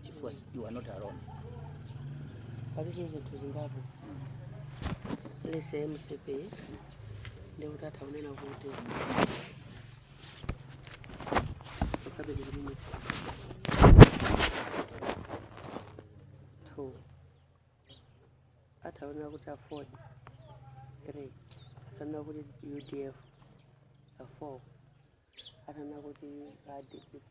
chifukwa si- you are not alone palitu zinthu zingapo let's say mcp ndi kuti atha kunena kuti ukabili limwe two atha kunena kuti aford three atha kunena kuti udf a four atha kunena kuti a dpp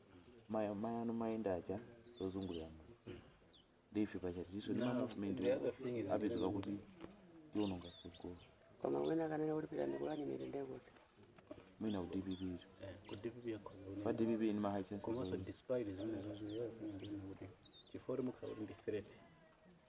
maya maya no mayenda aja ozungulira mu ndife pacha tiso ndi ma movement apezeka kuti tiononga tsogolo koma wina akanena kuti pita ndikulani mitende kuti mwina ku dpp ito ku dpp yakhoza kunena. fa dpp ndi ma high chances komanso only. despite zimene zozoyera kuti chifukwa kuti mukhala kuti ndi threat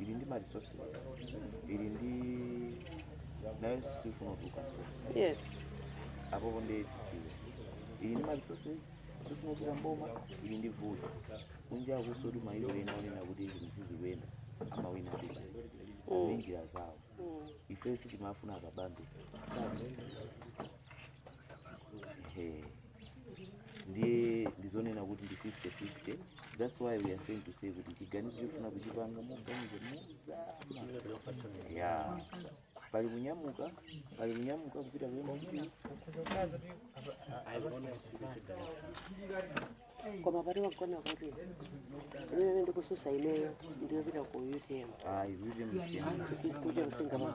ili ndi ma resources ili ndi nayonso sifuna kutuluka yes apapo ndi titiwe ili ndi ma resources sifuna kutuluka m'boma ili ndi vuto kunjakunso kuti mayiko ena anena kuti zinthu sizikuyenda amawina kuti basi ndi njira zawo ife sitimafuna a kabambe sabe ehe ndiye ndizonena kuti ndi 50-50 that's why we are saying to say kuti chiganizo chofuna kuchipanga moganiza mozama ya pali kunyamuka pali kunyamuka kupita ku mcp koma pati wagona kuti imene ndikutsutsa ineyo ndiyopita ku udf ayi kuti mchiyana kuja kusinga mwa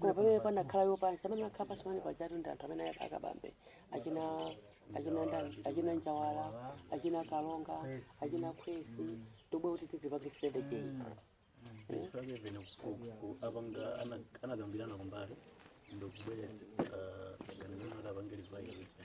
koma pamene anakhala pansi amene akhala pansi pamene pajatu ndi anthu amene ayaka a kabambe achina achina ndani achina njawala achina kalonga achina khwesi tobwe kuti tizipange strategy Ndifake pene ku- ku- apanga ana- anakambirana kumbali ndikubwera ganizana kuti apange revise